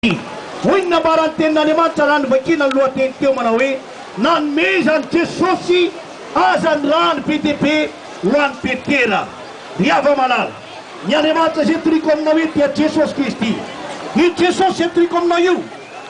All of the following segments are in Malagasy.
Hoy ny nambaran'ny Tenin'Andriamanitra raha novakiana ny lohateny teo manao hoe Nanome izany Jesosy aza ny rany be dia be ho an'i Petera. Ry hava-malala, ny Andriamanitra izay toriako aminao eto dia Jesosy Kristy. Io Jesosy izay toriako aminao io,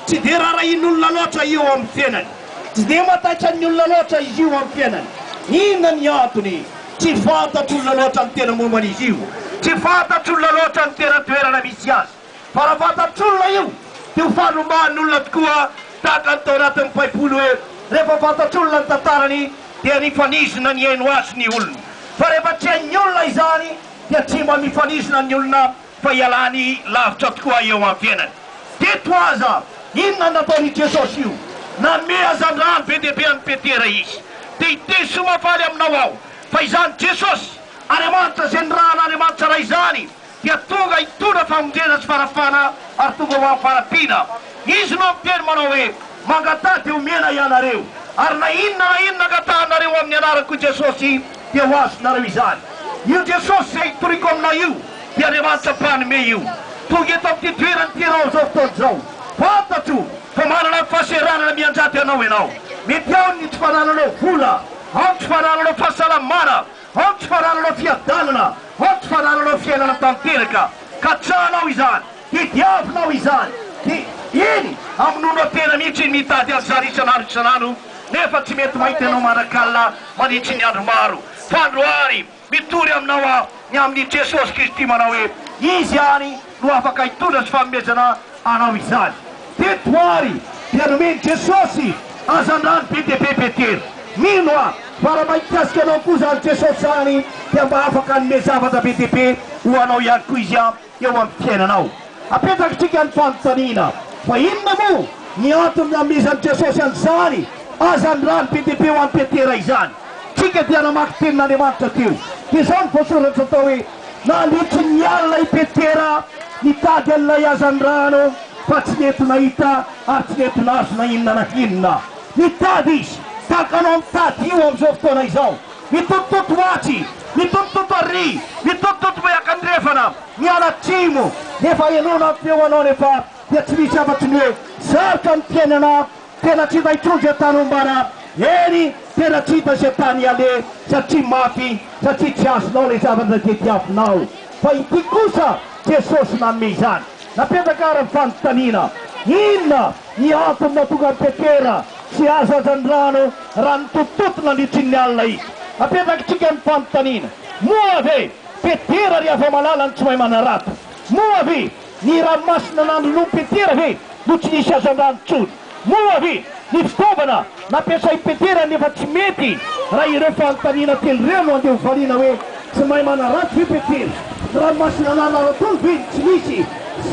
tsy dia rarahian'olona loatra io amin'ny fiainany. Tsy dia mataitran'ny olona loatra izy io amin'ny fiainany. Inona ny antony? Tsy fantatr'olona loatra ny tena momba an'izy io. Tsy fantatr'olona loatra ny tena toerana misy azy. Fa raha fantatr'olona io dia ho fanomahan'olona tokoa tahaka ny tao anatin'ny baiboly hoe rehefa fantatr'olona ny tantarany dia nifanizina nihaino azy ny olona. Fa rehefa tsy hain'ny olona izany dia tsy mba mifanizina ny olona fa ialany lavitra tokoa eo amin'ny fiainany. Teto aza inona nataon'i Jesosy io? Nanome hazandrano be dia be an'i Petera izy. Te hiteny soa mahafaly aminao aho fa izany Jesosy, Andriamanitra izay nirahan'Andriamanitra Ray izany, dia tonga hitondra famonjena sy fanafahana ary tonga ho amfarapiana. Izy no miteny manao hoe, Mangataha dia homena hianareo, ary na inona na inona angatahanareo amin'ny anaran'ko Jesosy dia ho azonareo izany. Io Jesosy izay itoriako aminao io dia Andriamanitra mpanome io. Tonga eto amin'ity toerana ity ianao amin'izao fotoana izao. Fantatro fa manana ny fahaseranana mianjady anao ianao. Mety ao ny tsy fanananao vola, ao ny tsy fanananao fahasalamana, Aoka fa rarànao fiadanana, aoka fa rarànao fiainana tanteraka. Katsahanao izany, tediavinao izany, dia iny amonoanao tena mihitsy iny mitady azy zary isan'andro isan'andro, nefa tsy mety mahita anao manak'alina mandritry ny andro maro. Fa androany, mitory aminao aho ny amin'i Jesosy Kristy manao hoe, Izy ihany no afaka hitondra sy fanomezana anao izany. Teto ary dia nomen'i Jesosy hazandrano be dia be Petera. Mino aho fa raha mba hikasika anao koa izany Jesosy izany dia mba afaka hanome zavatra be dia be ho anao ihany koa Izy eo amin'ny fiainanao. Apetrakintsika ny fanontaniana, fa inona moa ny antony nanomezan'i Jesosy an'izany hazandrano be dia be ho an'i Petera izany? Tsika dia namaky tenin'Andriamanitra teo. Dia izao ny voasoratra atao hoe. Nandritry ny alina i Petera nitady an'ilay hazandrano fa tsy nety nahita ary tsy nety nahazo na inona na inona. Nitady izy tahaka anao mitady io amin'izao fotoana izao. Mitotototo atsy, mitotototo arỳ, mitotototo miakandrefana, miala atsimo, nefa ianao na ny feonao anefa dia tsy misy afa-tsy ny hoe sarotra ny fiainana Tena tsy mba trondro e Tanombara Hery tena tsy hita ze tany iale satria maty satria tsy azonao le zavatra ze diavinao fa ity kosa Jesosy nanome izany napetraka ara fanontaniana inona ny antony natonga an'i Petera tsy azo aza ny rano raha nitotototo nandritrin'ny alina izy apetrakitsika ny fanontaniana moa ve Petera ry Havamalala no tsy mahay manarato moa ve Ny ranomasina nanoloan'i Petera ve no tsy nisy hazandrano intsony? Moa ve ny fitaovana nampiasain'i Petera no efa tsy mety? Raha ireo fanontaniana telo ireo no andeha hovaliana hoe tsy mahay manaratsy ve Petera? Ny ranomasina nanaratoany ve no tsy nisy?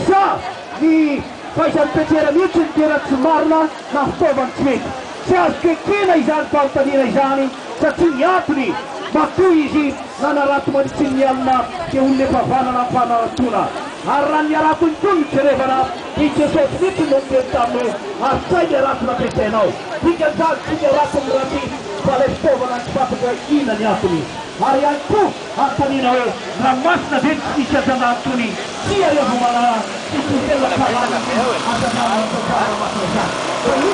Sa ny fahaizan'i Petera mihitsy no tena tsy marina na fitaovany tsy mety? Tsy azoko ekena izany fanontaniana izany. satria ny antony, matoa izy nanarato mandritrin' ny alina dia olona efa vana nampanaratoana. Ary raha ny haratony koa no jerevana, dia Jesosy mihitsy no niteny taminy hoe, Artsahy ny harato nampiasainao. Dikan'izany, tsy ny harato no ratsy, fa ilay fitaovana ny tsy fantatra hoe inona ny antony. Ary ihany koa, anontaniana hoe, Raha masina ve ny tsy misy ajanà antony? Tsia, ianao vao manana sy tsy ho tena karàna ny asa andranomantsy atsara raha masina izany.